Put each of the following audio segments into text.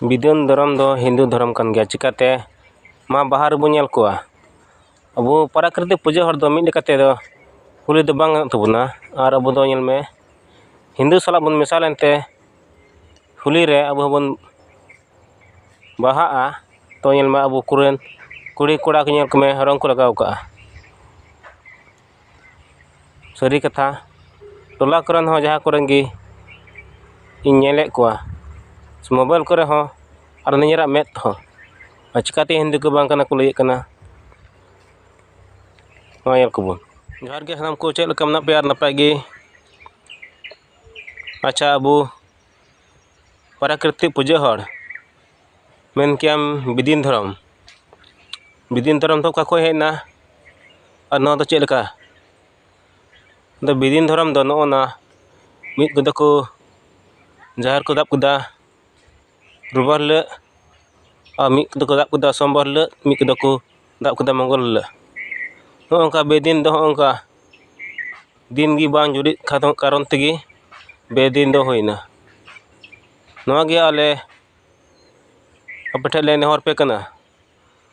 ᱵᱤᱫᱩᱱ ᱫᱷᱚᱨᱚᱢ ᱫᱚ ᱦᱤᱱᱫᱩ ᱫᱷᱚᱨᱚᱢ ᱠᱟᱱ ᱜᱮᱭᱟ ᱪᱤᱠᱟᱹᱛᱮ ᱢᱟ ᱵᱟᱦᱟ ᱨᱮᱵᱚᱱ ᱧᱮᱞ ᱠᱚᱣᱟ ᱟᱵᱚ ᱯᱨᱟᱠᱨᱤᱛᱤᱠ ᱯᱩᱡᱟᱹ ᱦᱚᱲ ᱫᱚ ᱢᱤᱫ ᱞᱮᱠᱟ ᱛᱮᱫᱚ ᱠᱩᱞᱤ ᱫᱚ ᱵᱟᱝ ᱜᱟᱱᱚᱜ ᱛᱟᱵᱚᱱᱟ ᱟᱨ ᱟᱵᱚ ᱫᱚ ᱧᱮᱞ ᱢᱮ ᱦᱤᱱᱫᱩ ᱥᱟᱞᱟᱜ ᱵᱚᱱ ᱢᱮᱥᱟ ᱞᱮᱱᱛᱮ ᱦᱳᱞᱤ ᱨᱮ ᱟᱵᱚ ᱦᱚᱸᱵᱚᱱ ᱵᱟᱦᱟᱜᱼᱟ ᱛᱚ ᱧᱮᱞ ᱢᱮ ᱟᱵᱚ ᱠᱚᱨᱮᱱ ᱠᱩᱲᱤᱼᱠᱚᱲᱟ ᱠᱚ ᱧᱮᱞ ᱠᱚᱢᱮ ᱨᱚᱝ ᱠᱚ ᱞᱟᱜᱟᱣ ᱠᱟᱜᱼᱟ ᱥᱟᱹᱨᱤ ᱠᱟᱛᱷᱟ ᱴᱚᱞᱟ ᱠᱚᱨᱮᱱ ᱦᱚᱸ ᱡᱟᱦᱟᱸ ᱠᱚᱨᱮᱱ ᱜᱮ ᱤᱧ ᱧᱮᱞᱮᱫ ᱠᱚᱣᱟ ᱥᱮ ᱢᱳᱵᱟᱭᱤᱞ ᱠᱚᱨᱮ ᱦᱚᱸ ᱟᱨ ᱱᱤᱡᱮᱨᱟᱜ ᱢᱮᱫ ᱛᱮᱦᱚᱸ ᱟᱨ ᱪᱤᱠᱟᱹᱛᱮ ᱦᱤᱱᱫᱤ ᱠᱚ ᱵᱟᱝ ᱠᱟᱱᱟ ᱠᱚ ᱞᱟᱹᱭᱮᱫ ᱠᱟᱱᱟ ᱱᱚᱜᱼᱚᱸᱭ ᱧᱮᱞ ᱠᱚᱵᱚᱱ ᱡᱚᱦᱟᱨ ᱜᱮ ᱥᱟᱱᱟᱢ ᱠᱚ ᱪᱮᱫ ᱞᱮᱠᱟ ᱢᱮᱱᱟᱜ ᱯᱮᱭᱟ ᱱᱟᱯᱟᱭ ᱜᱮ ᱟᱪᱪᱷᱟ ᱟᱵᱚ ᱯᱨᱟᱠᱨᱤᱛᱤᱠ ᱯᱩᱡᱟᱹ ᱦᱚᱲ ᱢᱮᱱ ᱠᱮᱭᱟᱢ ᱵᱤᱫᱤᱱ ᱫᱷᱚᱨᱚᱢ ᱵᱤᱫᱤᱱ ᱫᱷᱚᱨᱚᱢ ᱫᱚ ᱚᱠᱟ ᱠᱷᱚᱡ ᱦᱮᱡ ᱮᱱᱟ ᱟᱨ ᱱᱚᱣᱟ ᱫᱚ ᱪᱮᱫ ᱞᱮᱠᱟ ᱟᱫᱚ ᱵᱤᱫᱤᱱ ᱫᱷᱚᱨᱚᱢ ᱫᱚ ᱱᱚᱜᱼᱚ ᱱᱟ ᱢᱤᱫ ᱛᱮᱫᱚ ᱠᱚ ᱡᱟᱦᱮᱨ ᱠᱚ ᱫᱟᱵ ᱠᱮᱫᱟ ᱨᱳᱵᱽᱵᱟᱨ ᱦᱤᱞᱳᱜ ᱟᱨ ᱢᱤᱫ ᱛᱮᱫᱚ ᱠᱚ ᱫᱟᱵ ᱠᱮᱫᱟ ᱥᱳᱢᱵᱟᱨ ᱦᱤᱞᱳᱜ ᱢᱤᱫ ᱛᱮᱫᱚ ᱠᱚ ᱫᱟᱵ ᱠᱮᱫᱟ ᱢᱚᱝᱜᱚᱞ ᱦᱤᱞᱳᱜ ᱱᱚᱜᱼᱚ ᱱᱚᱝᱠᱟ ᱵᱤᱫᱤᱱ ᱫᱚ ᱦᱚᱸᱜᱼᱚ ᱱᱚᱝᱠᱟ ᱫᱤᱱ ᱜᱮ ᱵᱟᱝ ᱡᱩᱨᱤᱜ ᱠᱟᱨᱚᱱ ᱛᱮᱜᱮ ᱵᱤᱫᱤᱱ ᱫᱚ ᱦᱩᱭᱱᱟ ᱱᱚᱣᱟ ᱜᱮ ᱟᱞᱮ ᱟᱯᱮ ᱴᱷᱮᱱ ᱞᱮ ᱱᱮᱦᱚᱨ ᱟᱯᱮ ᱠᱟᱱᱟ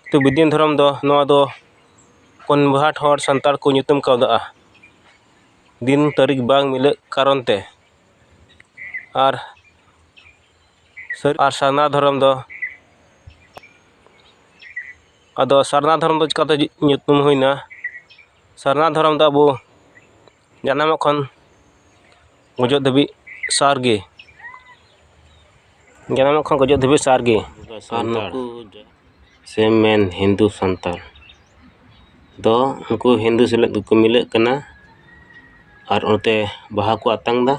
ᱠᱤ ᱵᱤᱫᱤᱱ ᱫᱷᱚᱨᱚᱢ ᱫᱚ ᱱᱚᱣᱟ ᱫᱚ ᱠᱚᱱᱵᱷᱟᱨᱴ ᱦᱚᱲ ᱥᱟᱱᱛᱟᱲ ᱠᱚ ᱧᱩᱛᱩᱢ ᱠᱟᱣᱫᱟ ᱫᱤᱱ ᱛᱟᱹᱨᱤᱠᱷ ᱵᱟᱝ ᱢᱤᱞᱟᱹᱜ ᱠᱟᱨᱚᱱ ᱛᱮ ᱟᱨ ᱟᱨ ᱥᱟᱨᱱᱟ ᱫᱷᱚᱨᱚᱢ ᱫᱚ ᱟᱫᱚ ᱥᱟᱨᱱᱟ ᱫᱷᱚᱨᱚᱢ ᱫᱚ ᱪᱤᱠᱟᱹᱛᱮ ᱧᱩᱛᱩᱢ ᱦᱩᱭᱱᱟ ᱥᱟᱨᱱᱟ ᱫᱷᱚᱨᱚᱢ ᱫᱚ ᱟᱵᱚ ᱡᱟᱱᱟᱢᱚᱜ ᱠᱷᱚᱱ ᱜᱩᱡᱩᱜ ᱫᱷᱟᱹᱵᱤᱡ ᱥᱟᱨ ᱜᱮ ᱡᱟᱱᱟᱢᱚᱜ ᱠᱷᱚᱱ ᱜᱩᱡᱩᱜ ᱫᱷᱟᱹᱵᱤᱡ ᱥᱟᱨ ᱜᱮ ᱟᱨ ᱱᱩᱠᱩ ᱥᱮ ᱢᱮᱱ ᱦᱤᱱᱫᱩ ᱥᱟᱱᱛᱟᱲ ᱫᱚ ᱩᱱᱠᱩ ᱦᱤᱱᱫᱩ ᱥᱟᱞᱟᱜ ᱜᱮᱠᱚ ᱢᱤᱞᱟᱹᱜ ᱠᱟᱱᱟ ᱟᱨ ᱚᱱᱛᱮ ᱵᱟᱦᱟ ᱠᱚ ᱟᱛᱟᱝ ᱫᱟ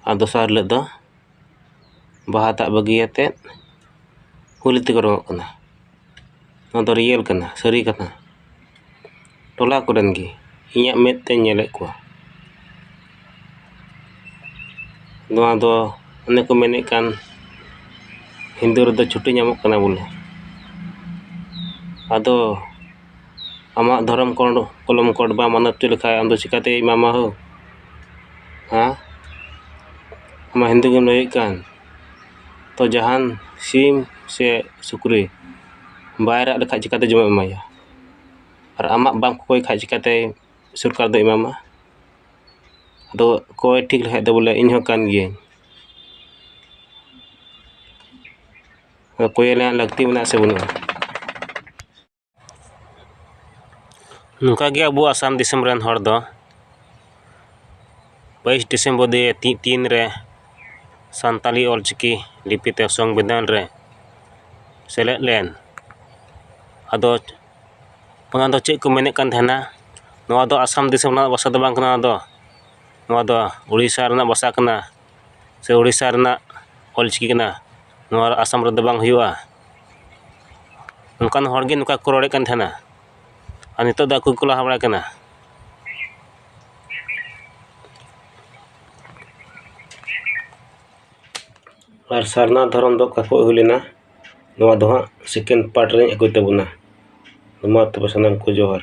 ᱟᱨ ᱫᱚᱥᱟᱨ ᱦᱤᱞᱳᱜ ᱫᱚ ᱵᱟᱦᱟ ᱫᱟᱜ ᱵᱟᱹᱜᱤ ᱠᱟᱛᱮᱫ ᱠᱩᱞᱦᱤ ᱛᱮᱠᱚ ᱨᱚᱝᱚᱜ ᱠᱟᱱᱟ ᱱᱚᱣᱟ ᱫᱚ ᱨᱤᱭᱮᱞ ᱠᱟᱱᱟ ᱥᱟᱹᱨᱤ ᱠᱟᱛᱷᱟ ᱴᱚᱞᱟ ᱠᱚᱨᱮᱱ ᱜᱮ ᱤᱧᱟᱹᱜ ᱢᱮᱫ ᱛᱮᱧ ᱧᱮᱞᱮᱫ ᱠᱚᱣᱟ ᱱᱚᱣᱟ ᱫᱚ ᱚᱱᱮ ᱠᱚ ᱢᱮᱱᱮᱫ ᱠᱟᱱ ᱦᱤᱱᱫᱩ ᱨᱮᱫᱚ ᱪᱷᱩᱴᱤ ᱧᱟᱢᱚᱜ ᱠᱟᱱᱟ ᱵᱚᱞᱮ ᱟᱫᱚ ᱟᱢᱟᱜ ᱫᱷᱚᱨᱚᱢ ᱠᱳᱰ ᱠᱚᱞᱚᱢ ᱠᱳᱰ ᱵᱟᱢ ᱢᱟᱱᱟᱣ ᱦᱚᱪᱚ ᱞᱮᱠᱷᱟᱡ ᱟᱢᱫᱚ ᱪᱤᱠᱟᱹᱛᱮ ᱮᱢᱟᱢᱟ ᱦᱳ ᱦᱮᱸ ᱟᱢ ᱢᱟ ᱦᱤᱱᱫᱩ ᱜᱮᱢ ᱞᱟᱹᱭᱮᱫ ᱠᱟᱱ ᱛᱚ ᱡᱟᱦᱟᱱ ᱥᱤᱢ ᱥᱮ ᱥᱩᱠᱨᱤ ᱵᱟᱭ ᱨᱟᱜ ᱞᱮᱠᱷᱟᱡ ᱪᱤᱠᱟᱹᱛᱮ ᱡᱚᱢᱟᱜ ᱮᱢ ᱮᱢᱟᱭᱟ ᱟᱨ ᱟᱢᱟᱜ ᱵᱟᱢ ᱠᱚᱠᱚᱭ ᱠᱷᱟᱡ ᱪᱤᱠᱟᱹᱛᱮ ᱥᱚᱨᱠᱟᱨ ᱫᱚᱭ ᱮᱢᱟᱢᱟ ᱟᱫᱚ ᱠᱚᱭ ᱴᱷᱤᱠ ᱞᱮᱠᱷᱟᱡ ᱫᱚ ᱵᱚᱞᱮ ᱤᱧ ᱦᱚᱸ ᱠᱟᱱ ᱜᱤᱭᱟᱹᱧ ᱠᱚᱭ ᱨᱮᱱᱟᱜ ᱞᱟᱹᱠᱛᱤ ᱢᱮᱱᱟᱜ ᱟᱥᱮ ᱵᱟᱹᱱᱩᱜᱼᱟ ᱱᱚᱝᱠᱟ ᱜᱮ ᱟᱵᱚ ᱟᱥᱟᱢ ᱫᱤᱥᱚᱢ ᱨᱮᱱ ᱦᱚᱲ ᱫᱚ ᱵᱟᱭᱤᱥ ᱰᱤᱥᱮᱢᱵᱚᱨ ᱫᱩ ᱦᱟᱡᱟᱨ ᱛᱤᱱ ᱨᱮ ᱥᱟᱱᱛᱟᱲᱤ ᱚᱞ ᱪᱤᱠᱤ ᱞᱤᱯᱤ ᱛᱮ ᱥᱚᱝᱵᱤᱫᱷᱟᱱ ᱨᱮ ᱥᱮᱞᱮᱫ ᱞᱮᱱ ᱟᱫᱚ ᱚᱱᱟ ᱫᱚ ᱪᱮᱫ ᱠᱚ ᱢᱮᱱᱮᱫ ᱠᱟᱱ ᱛᱟᱦᱮᱱᱟ ᱱᱚᱣᱟ ᱫᱚ ᱟᱥᱟᱢ ᱫᱤᱥᱚᱢ ᱨᱮᱱᱟᱜ ᱵᱷᱟᱥᱟ ᱫᱚ ᱵᱟᱝ ᱠᱟᱱᱟ ᱱᱚᱣᱟ ᱫᱚ ᱱᱚᱣᱟ ᱫᱚ ᱳᱰᱤᱥᱟ ᱨᱮᱱᱟᱜ ᱵᱷᱟᱥᱟ ᱠᱟᱱᱟ ᱥᱮ ᱳᱰᱤᱥᱟ ᱨᱮᱱᱟᱜ ᱚᱞ ᱪᱤᱠᱤ ᱠᱟᱱᱟ ᱱᱚᱣᱟ ᱟᱥᱟᱢ ᱨᱮᱫᱚ ᱵᱟᱝ ᱦᱩᱭᱩᱜᱼᱟ ᱚᱱᱠᱟᱱ ᱦᱚᱲ ᱜᱮ ᱱᱚᱝᱠᱟ ᱠᱚ ᱨᱚᱲᱮᱫ ᱠᱟᱱ ᱛᱟᱦᱮᱱᱟ ᱟᱨ ᱱᱤᱛᱚᱜ ᱫᱚ ᱟᱠᱚ ᱜᱮᱠᱚ ᱞᱟᱦᱟ ᱵᱟᱲᱟᱜ ᱠᱟᱱᱟ ᱟᱨ ᱥᱟᱨᱱᱟ ᱫᱷᱚᱨᱚᱢ ᱫᱚ ᱚᱠᱟ ᱠᱷᱚᱱ ᱦᱩᱭ ᱞᱮᱱᱟ ᱱᱚᱣᱟ ᱫᱚ ᱦᱟᱸᱜ ᱥᱮᱠᱮᱱᱰ ᱯᱟᱨᱴ ᱨᱤᱧ ᱟᱹᱜᱩᱭ ᱛᱟᱵᱚᱱᱟ ᱢᱟ ᱛᱚᱵᱮ ᱥᱟᱱᱟᱢ ᱠᱚ ᱡᱚᱦᱟᱨ